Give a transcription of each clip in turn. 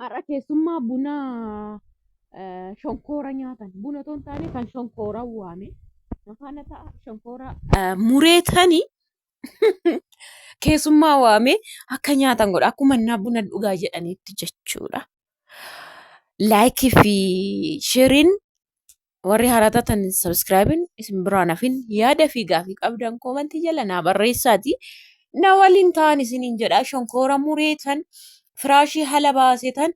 Har'a keessummaa buna eh, shonkoora nyaatan. Buna otoo hin taane kan shonkoora waame. Mafaana ta'a shonkoora eh, muree tani keessummaa waame akka nyaatan godha. Akkuma innaa buna dhugaa jedhaniitti jechuudha. Laayikii fi shiriin Warri haaraa taatan sabiskiraayibiin isin biraan hafin yaada fi gaafii qabdan koomantii jala naa barreessaati. Na waliin ta'an isiniin jedha shonkoora mureetan firaashii hala baasetan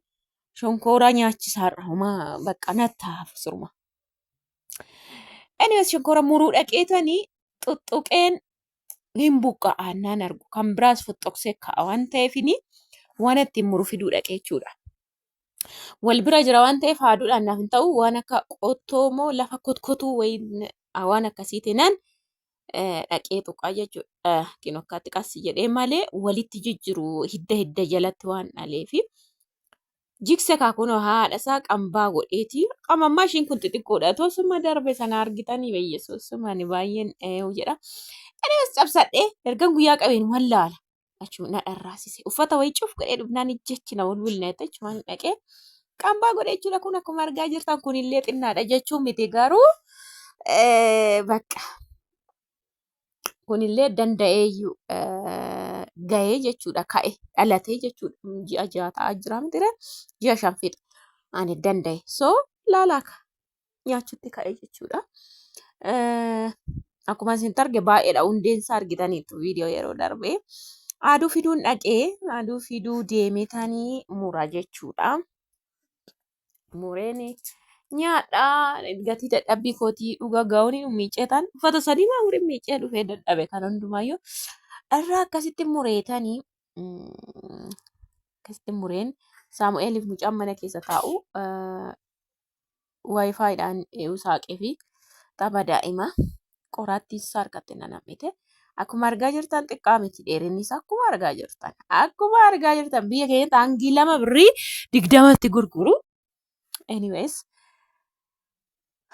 shonkooraa nyaachisaarra homaa bakka nattaaf surma. Anyways shonkoora muruu dhaqeetanii xuxxuqeen hin buqqa'a naan argu kan biraas foxxoqsee ka'a waan ta'eefini waan ittiin muru fiduu dhaqee jechuudha. wal bira jira waan ta'eef haaduudhaan naaf hin ta'u waan akka qottoo moo lafa kotkotuu wayiin ah, waan akkasii teenaan eh, dhaqee tuqaa jechuudha kin akkaatti qassi jedhee malee walitti jijjiru hidda hidda jalatti waan dhaleefi jikse kaakunoo haadha isaa qambaa godheeti qamammaa ishiin kun xixiqqoodha otoo summa darbe sana argitanii beeyyesuus sumani baay'een eh, jedha Anis cabsadhee ergan guyyaa qabeen wallaala. achuma na dharraasise. Uffata wayii cuf godhee dhufnaan ijjechi na walwilna jette achumaan dhaqee qambaa godhee jechuudha kun akkuma argaa jirtan kunillee xinnaadha jechuun miti garuu eh, bakka kunillee danda'eeyyuu eh, gahee jechuudha ka'e dhalatee jechuudha ji'a ja'a ta'aa jira mitire ji'a shan fixa ani danda'e so laalaaka nyaachutti ka'e jechuudha. Akkuma isin arge baay'eedha hundeen isaa argitaniitu viidiyoo yeroo darbee. Aduu fiduun dhaqee aduu fiduu deemetanii mura jechuudha. Mureen nyaadha gatii dadhabbii kootii dhuga gaa'uun miiceetaan uffata sadii maa mureen miicee dhufee dadhabe kan hundumaayyuu irraa akkasitti mureetanii akkasitti mureen saamu'eeliif mucaan mana keessa taa'u waayifaayiidhaan ee'uu saaqee fi qaba daa'ima qoraattiin isaa harkatti na nam'ite. Akkuma argaa jirtan xiqqaa miti dheerinni isaa akkuma argaa jirtan. Akkuma argaa jirtan biyya keenyatti hangii lama birrii digdamatti gurguru. Anyways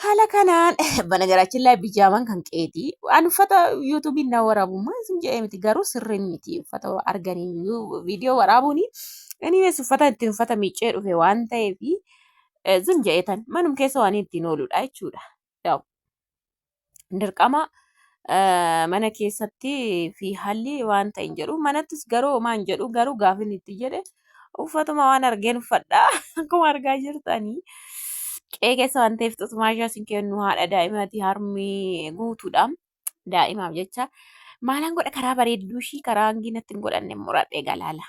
haala kanaan banagaraachin laay bijaaman kan qeeti. An uffata yuutuubiin na waraabummaa isin jedhee miti garuu sirriin miti uffata arganii viidiyoo waraabuuni. Anyways uffata ittiin uffata miiccee dhufe waan ta'eefi. eh, zim ja'eetan manum keessa waan ittiin ooludha jechuudha. Yaw, dirqama eh, mana keessatti fi haalli waan ta'in jedhu manattis garuu homaa hin jedhu garuu gaafin itti jedhe uffatuma waan argeen uffadha akkuma argaa jirtanii. Qe'ee keessa waan ta'eef xusumaa ishee isin kennu haadha daa'imati harmi guutuudha. Daa'imaaf jecha maalaan godha karaa bareedduu ishii karaa hangi natti hin godhanne muradhe galaala.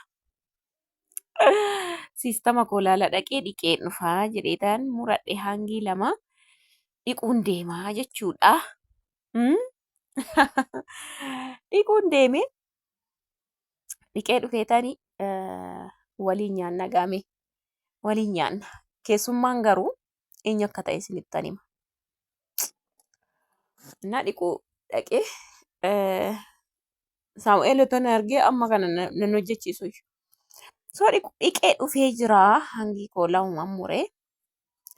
Siistama koo laala dhaqee dhiqee dhufaa jedheetaan muradhe hangii lama dhiquun deemaa jechuudha. Mm? Dhiquun deeme dhiqee dhufeetani eh, waliin nyaanna gaame waliin nyaanna. Keessummaan garuu eenyu akka ta'e isinittan hima. Innaa dhiquu dhaqee eh, Saamu'eel otoo na argee amma kana na- nan hojjechiisu iyyuu. Soo dhiqu- dhiqee dhufee jira hangi koo lamumaan muree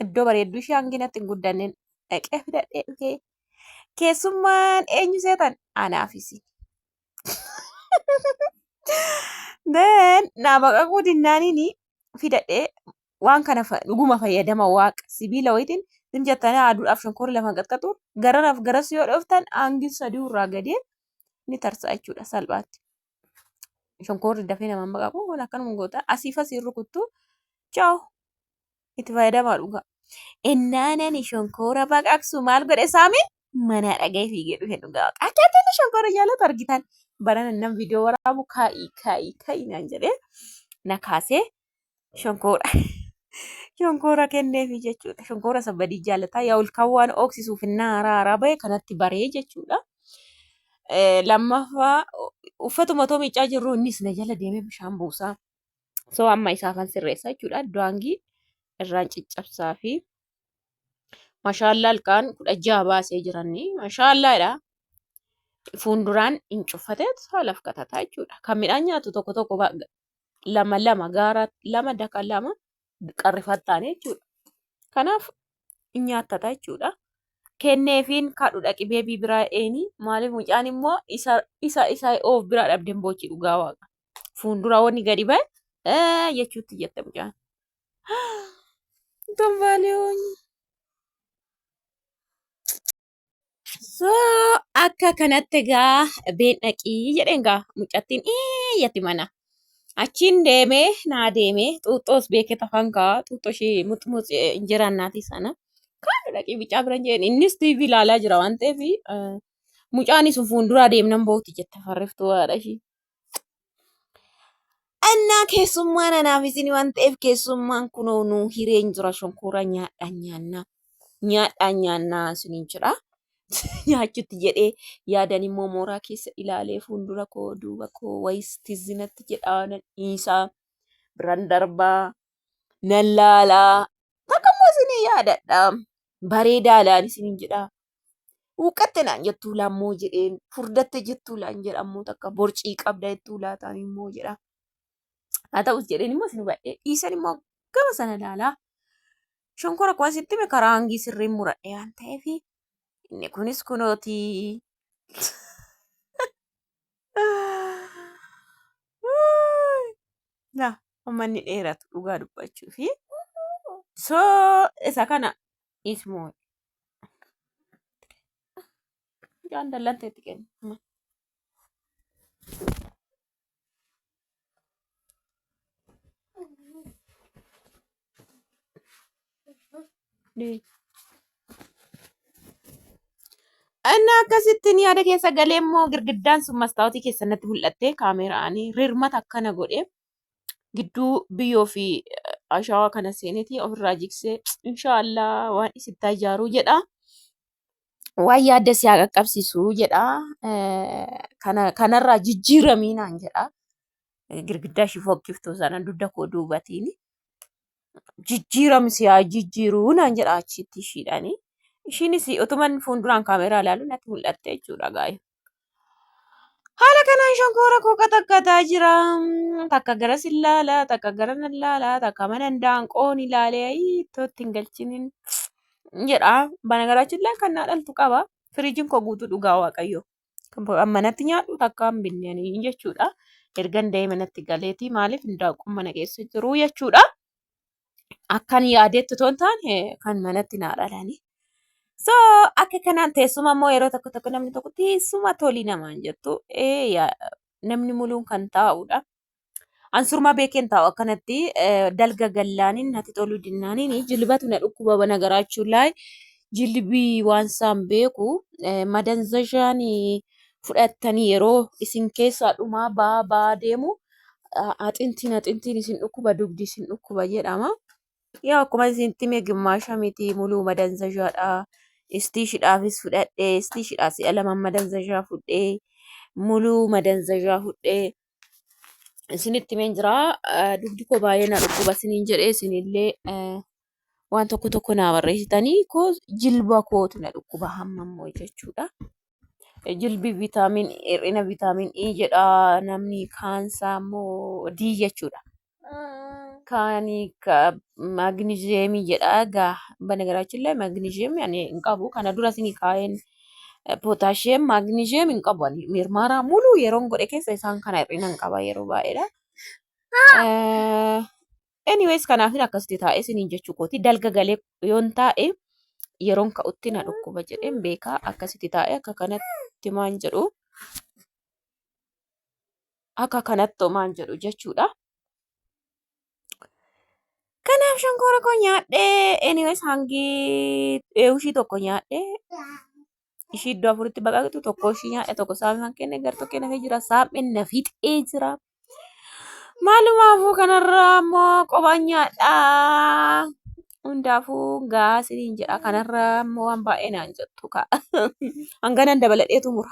iddoo bareedduu ishee hangi natti hin guddanneen dhaqee fidadhee dhufee keessummaan eenyu seetan anaafisi. Then naa baqaquu dinnaaniin fidadhee waan kana dhuguma fayyadama waaqa sibiila wayitiin sim jettanii aduudhaaf shonkorii lafan qaxqaxu gararaaf garas yoo dhooftan aangin sadii irraa gadee ni tarsa'a jechuudha salphaatti. Shonkoorri dafee nama amma qabu kun akkanuma goota asiif asiin rukuttu chaaw itti fayyadamaa dhugaa. Ennaanani shonkoora baqaqsu maal godhe saamiin manaa dhaga'ee fiigee dhufe dhugaa waaqa. Akka inni shonkoora jaalatu argitan barana nam viidiyoo waraabu kaa'ii kaa'ii kaa'ii naan jedhee na kaasee shonkoora shonkoora kenneefi jechuudha. Shonkoora isa badii jaalataa yaa olkaan waan ooksisuuf innaa haaraa haaraa bahe kanatti baree jechuudha. Lammaffaa uffatuma otoo miiccaa jirru innis na jala deemee bishaan buusaa. Soo amma isaafan sirreessa jechuudha. Daangii irraan ciccabsaa fi mashaallaa ilkaan kudha jaha baasee jiranni mashaallaadha. Fuunduraan hin cuffatee saalaf katataa jechuudha. Kan midhaan nyaatu tokko tokko lama lama gaara lama daka lama qarrifattaane jechuudha. Kanaaf hin nyaattata jechuudha. Kenneefiin kaadhu dhaqi beebii biraa eeni maaliif mucaan immoo isa isa isa oof biraa dhabdeen boochi dhugaa waaqa. Fuuldura wanni gadi ba'e ee jechuutti jette mucaan. Kan baaliyoon. So akka kanatti egaa been dhaqii jedheen gaa mucattiin iyyatti mana. Achiin deemee naa deemee xuuxxoos beekee tafan kaa xuuxxoo ishee muxmuxi injiraan naatii sana. Kaanu dhaqii bicaa bira hin jedheen innis TV ilaalaa jira waan ta'eef mucaan isin fuulduraa deemnan booti jette farriftuu haadha ishii. Annaa keessummaan anaaf isin waan ta'eef keessummaan kunoo nu hireen jira shonkoora nyaadhaan nyaannaa nyaadhaan nyaannaa isiniin jedha. Nyaachutti jedhee yaadan immoo mooraa keessa ilaalee fuuldura koo duuba koo wayis tizzinatti jedhaa nan dhiisaa biran darbaa nan laalaa takka immoo isinii yaadadha bareedaadhaan isiniin jedha Huuqqatte naan jettuu laammoo jedheen furdatte jettuu laan jedha ammoo takka borcii qabda jettuu laataan immoo jedha. Haa ta'us jedheen immoo isin hubadhee dhiisan immoo gama sana ilaalaa. Shonkora kuwan sitti hime karaa hangii sirriin muradhee waan ta'eef inni kunis kunooti. Laa amma inni dheeratu dhugaa dubbachuu fi so isa kana ismoo jaan dallattee itti kenna. Inni akkasittiin yaada keessa galee immoo girgiddaan sun mastaawotii keessatti mul'attee kaameraan rirmata akkana godhee gidduu biyyoo fi ashawaa kana seeneeti ofirraa jiksee inshaallah waan isittaa ijaaruu jedha. Waan yaadda si haa qaqqabsiisu jedha. Kana kanarraa jijjiiramii naan jedha. Girgiddaa ishii fokkiftuu sana dugda koo duubatiin jijjiirami si haa jijjiiruu naan jedha achitti ishiidhaani. Ishiinis utuman fuulduraan kaameeraa ilaalu natti mul'atte jechuudha gaa'e. Haala kanaan shonkoora koo qaxaqqataa jira. Takka garas hin laala, takka gara nan laala, takka mana handaanqoon ilaalee ayii ittootti hin galchinin jedha. Banagaraachin illee kan naa dhaltu qaba. Firiijiin koo guutuu dhugaa waaqayyo. Kan manatti nyaadhu takka hin binnanii jechuudha. Ergan da'ee manatti galeeti maaliif handaanqoon mana keessa jiru jechuudha. akkan yaadetti otoo hin taane kan manatti naa dhalani. So akka kanaan teessuma immoo yeroo tokko tokko namni tokko teessuma tolii namaan jettu ee yaa- namni muluun kan taa'udha. Ansurma beekeen taa'u akkanatti eh, dalga gallaaniin natti toluu dinnaaniin jilbatu na dhukkuba bana garaachuu laay jilbii waan saan beeku eh, madanzashaan fudhattanii yeroo isin keessaa dhumaa baa baa deemu axintiin axintiin isin dhukkuba dugdi isin dhukkuba jedhama. Yaa akkuma isin time gimmaasha miti muluu madanzashaadha. Istiishidhaafis fudhadhee istiishidhaa si'a lama madanzashaa fudhee muluu madanzashaa fudhee isinitti himeen jira. Dugdi koo baay'ee na dhukkuba isiniin jedhee isinillee waan tokko tokko naa barreessitanii koo jilba kootu na dhukkuba hamma immoo jechuudha. Jilbi vitaamin hir'ina vitaamin E jedha namni kaansaa immoo D jechuudha. Kaani ka maagniziyeemii jedha gaa banagaraachin illee maagniziyeemii ani hin qabu kana dura isinii kaa'een pootaashiyeem maagniziyeem hin qabu ani mirmaaraa muluu yeroon godhe keessa isaan kana hir'ina hin qaba yeroo baay'eedha. Eh, Anyways kanaafin akkasitti taa'ee isiniin jechuu kooti dalga galee yoon taa'e yeroon ka'utti na dhukkuba jedheen beekaa akkasitti taa'e akka kanatti maan jedhu akka kanatti maan jedhu jechuudha. Kanaaf shonkoora koo nyaadhee anyways hangi eewushii tokko nyaadhee ishii iddoo afuritti baqaqxu tokko ishii nyaadhe tokko saamimaan kenne gartokkee nafee jira saam'e na fixee jira. Maalumaafuu kanarraa ammoo qobaan nyaadhaa. Hundaafuu gahaa siniin jedha kanarraa ammoo waan baay'ee naan jettu ka'a. Hanganan dabaladheetu mura.